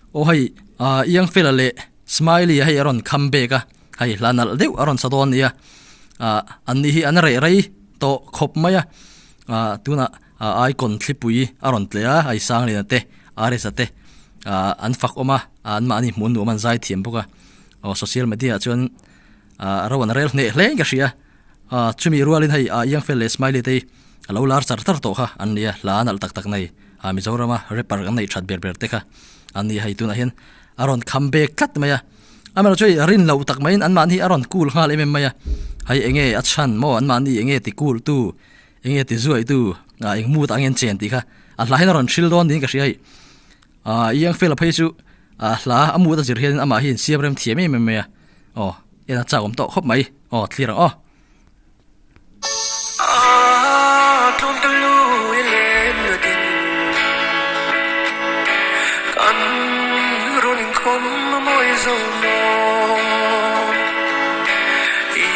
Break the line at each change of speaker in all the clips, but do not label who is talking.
Aw hei ah iang fela leh smiley a hei a rawn come back a hei hla nalh deuh a rawn sa dawn a nia ah an nih hi an rei rei tawh khawp mai a ah tunah ah icon thlipui a rawn tle a hei sanglian te irs te ah an fak awm a ah anmahni hmuhnua man zai thiam bawk a aw social media ah chuan-- Ahh ro an rel hneh hleng ka hria a, chumi rualin hei a iang fel leh smiley te hi a lo lar char char tawh kha an nia hla nalh tak tak nei a Mizorama rapper kan neih that ber ber te kha an nia hei tunah hian a rawn kham bek tlat mai a amaherawhchu hei a rin loh tak maiin anmahni hi a rawn cool nghal em em mai a hei eng nge a chhan maw anmahni eng nge ti cool tu eng nge ti zuaih tu a eng mood ah angin chen tih kha a hla hian a rawn hrilh dawn niin ka hria hei. Aaa Iang Fel a phei chu aa hla a mut a zir hian in amah hian siam rem thiam em em mai a aw en a chak awm tawh khawp mai aw thlir ang aw. Aaa Tlawm tawh lu i lem na din Kan rawn inkhawm a mawi zo maw I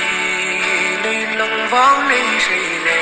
na inlang vang nei hrei le.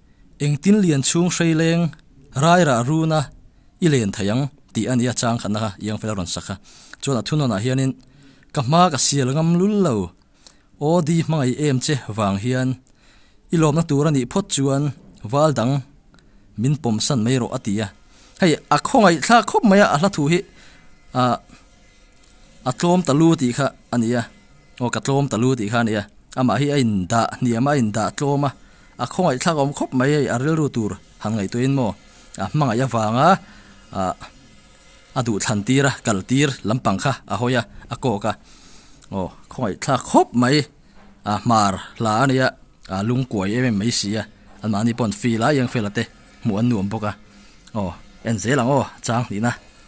engtin lian chhung hreileng rairah runa i len thei ang tih a ni a chang khatna kha iang fel a rawn sak kha chuan a thunawnah hianin ka hma ka sial ngam lul lo aw di hmangaih em che vang hian i lawmna tur a nih phawt chuan val dang min pawm san mai rawh a ti a hei a khawngaih thlak khawp mai a a hla thu hi a A tlawm ta lu tih kha a ni a, aw ka tlawm ta lu tih kha a ni a, amah hi a indah hniam a, a indah tlawm a, a khawngaihthlak awm khawp mai a rilru tur han ngaihtuah in maw, a hmangaih avanga a duhthlan tir a, kal tir lampang kha a hawi a, a kawk a, aw khawngaihthlak khawp mai a hmar hla a nia, a lung kuai em em mai si a, anmahni pawn fel a iang fel a te hmuh an nuam bawk a, aw en zel ang aw chang hnihna.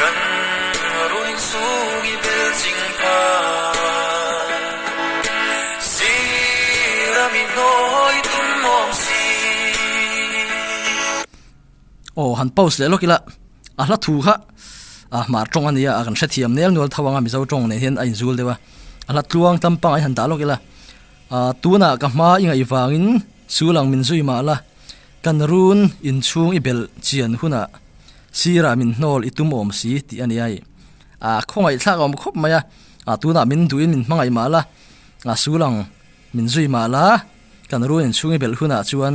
Kan run chung i bel ching pha Si ram i hnawi tum awm si. Aw han post leh lawk ila a hla thu kha a hmar tawng ania a kan hrethiam nel nual tho anga mizo tawng nen hian a inzul deuh a a hla tluang tlam pangai han dah lawk ila tunah ka hma i ngaih vangin Chu lang min zui mah la, kan run in chhung i belh chian hunah sirah min hnawl i tum awm si tih a ni a, aa khawngaihthlak a awm khawp mai a, aa tunah min duhin min hmangaih mah la, aa su lang min zui mah la, kan run in chhung i belh hunah chuan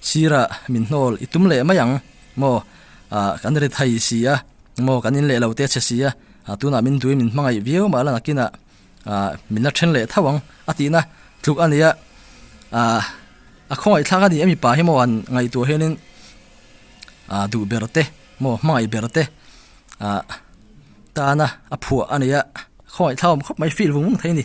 sirah min hnawl i tum leh mai ang maw, aa kan ri thei si a maw, kan in leh lo teh che si a, aa tunah min duhin min hmangaih viau mah la nakinah. Ahh min a then leh thauh ang a tihna tluk a nia ahh a khawngaihthlak a nih a mipa hi maw an ngaihtuah hianin ahh duh ber te maw hmangaih ber te ahh tana a phuah a nia khawngaihthlak awm khawp mai feel vung vung thei a ni.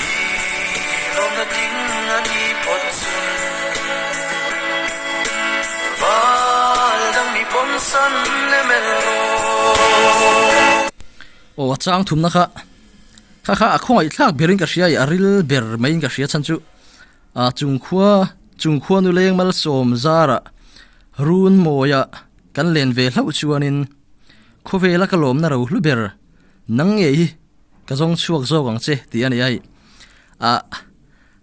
Hi rawn a ding a ni phawt chun Val dang mi pawm san em el rawh. Aw a chang thumna kha kha kha a khawngaih thlak berin ka hria i a ril ber maiin ka hria chhan chu a chungkhua chungkhua nu lengmal sawm zara run mawia kan len ve hlauh chuanin khawvela ka lawmna ro hlu ber nang ngei hi Ka zawng chhuak zawk ang che tih a ni ai. A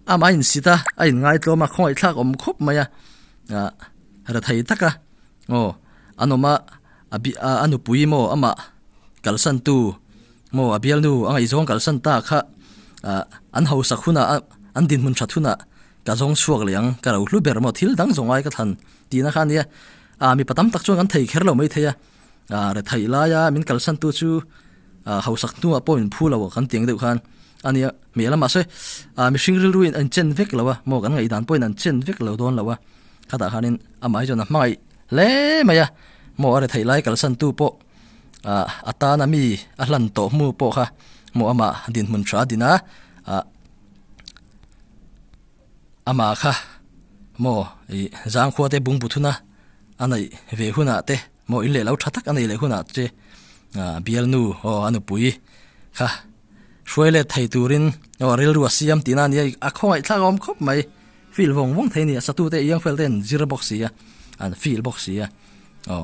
ama in sit a, a in ngaitlawm a, khawngaihthlak awm khawp mai a, a hre thei tak a. Aw, an awm a, a nupui maw ama kalsantu maw a bialnu a ngaihzawng kalsan ta kha an hausak hunah an dinhmun that hunah ka zawng chhuak leh ang, ka rohlu ber maw thil dang zawngai ka thlan tihna kha a nia. A mipa tam tak chuan kan thei kher lo mai thei a. ah rethaih laia min kalsan tu chu ah hausak hnua pawh min phu lo kan tiang deuh khan a nia hmel a mahse ah mihring rilru in an chen vek lo a maw kan ngaihdan pawhin an chen vek lo dawn lo a khata khanin amah hi chuan a hmangaih hle mai a maw a rethaih lai kalsan tu pawh ah atana mi a hlan tawh hmu pawh kha maw amah dinhmun tha a din a ah Amah kha maw i zangkhua te bung buthuna a neih ve hunah te maw in leh lo tha tak a nei leh hunah che Bialnu aw a nupui kha hruai let thei turin aw rilru a siam tihna nia a khawngaihtlak a awm khawp mai feel vawng vawng thei a ni a satute iang fel ten zir bawk sia an feel bawk sia aw